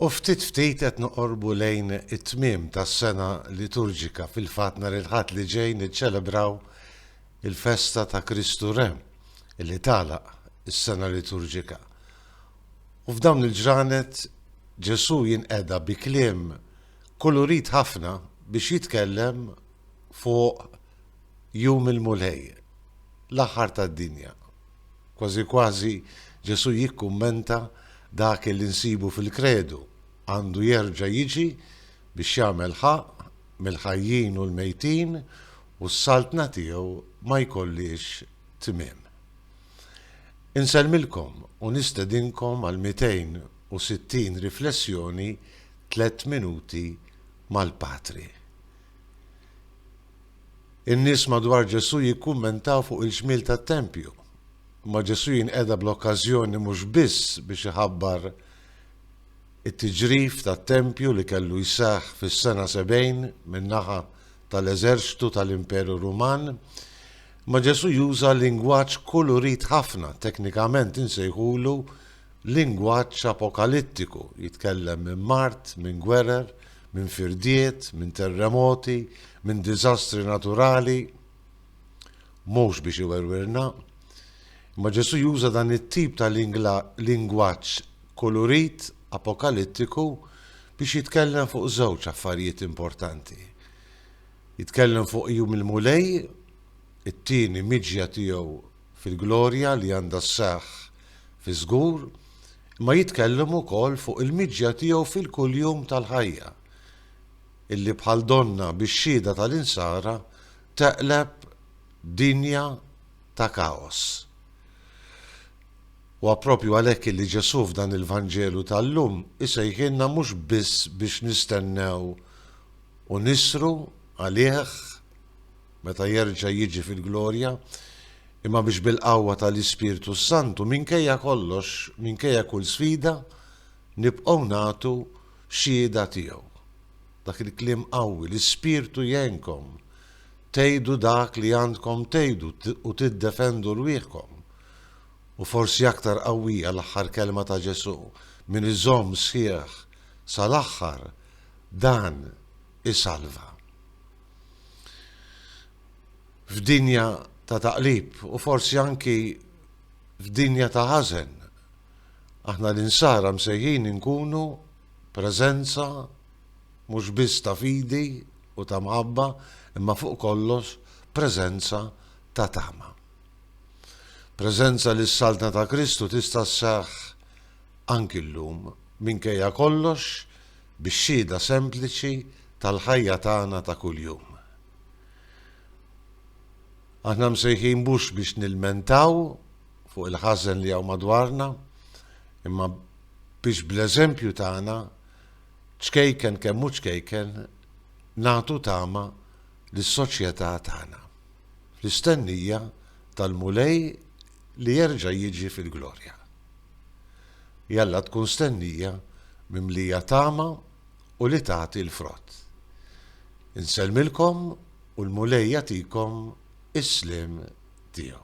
U ftit ftit qed noqorbu lejn it-tmiem tas-sena liturġika fil-fatt nhar il-Ħadd li ġej niċċelebraw il-festa ta' Kristu Re li tagħlaq is-sena liturġika. U f'dawn il-ġranet Ġesù jinqeda bi kliem kulurit ħafna biex jitkellem fuq jum il-Mulej, l-aħħar tad-dinja. Kważi kważi Ġesù jikkummenta, Dak li nsibu fil-Kredu għandu jerġa' jiġi biex jagħmel ħaqq mill-ħajjin u l-mejtin u s-Saltna tiegħu ma jkollhiex tmiem. Insellmilkom u nistedinkom għal 260 riflessjoni Tliet Minuti mal-Patri. In-nies madwar Ġesù jikkummentaw fuq il-ġmiel tat-tempju. Imma Ġesù jinqeda bl-okkażjoni mhux biss biex iħabbar it-tiġrif tat-tempju li kellu jseħħ fis-sena 70 min-naħa tal-eżerċtu tal-Imperu Ruman, imma Ġesù juża lingwaġġ kulurit ħafna, teknikament insejħulu Lingwaġġ apokalittiku, jitkellem minn mard, minn gwerer, minn firdiet, minn terremoti, minn diżastri naturali. Mhux biex iwerwirna, imma Ġesù juża dan it-tip ta' lingwaġġ kulurit apokalittiku biex jitkellem fuq żewġ affarijiet importanti. Jitkellem fuq jum il-Mulej, it-tieni miġja tiegħu fil-glorja li għandha sseħħ fiż-żgur, imma jitkellem ukoll fuq il-miġja tiegħu fil-kuljum tal-ħajja, illi bħal donnha bix-xhieda tal-Insara teqleb dinja ta' kaos. Huwa proprju għalhekk illi Ġesù f'dan il-Vanġelu tal-lum isejħilna mhux biss biex nistennew u nisru għalih, meta jerġa' jiġi fil-glorja, imma biex bil-qawwa tal-Ispirtu s-Santu, minkejja kollox, minkejja kull sfida, nibqgħu nagħtu xhieda tiegħu. Dak il-kliem qawwi, l-Ispirtu jgħinkom tgħidu dak li għandkom tgħidu u tiddefendu rwieħkom. U forsi aktar qawwija l-aħħar kelma ta' Ġesù, min iżomm sħiħ sal-aħħar dan isalva. f'dinja ta' taqlib u forsi anki f'dinja ta' ħażen. Aħna l-insara msejħin inkunu preżenza mhux biss ta' fidi u ta' mħabba, imma fuq kollox preżenza ta' tama. Preżenza li s-saltna ta' Kristu tista' sseħħ anki llum minkejja kollox bix-xhieda sempliċi tal-ħajja tagħna ta' kuljum. Aħna msejħin mhux biex nilmentaw fuq il-ħażen li hawn madwarna, imma biex bl-eżempju tagħna ċkejken kemm hu ċkejken nagħtu tama lis-soċjetà tagħna, fl-istennija tal-Mulej li jerġa' jiġi fil-glorja. Jalla tkun stennija mimlija tama u li tagħti l-frott. Insellmilkom u l-Mulej jagħtikom is-sliem tiegħu.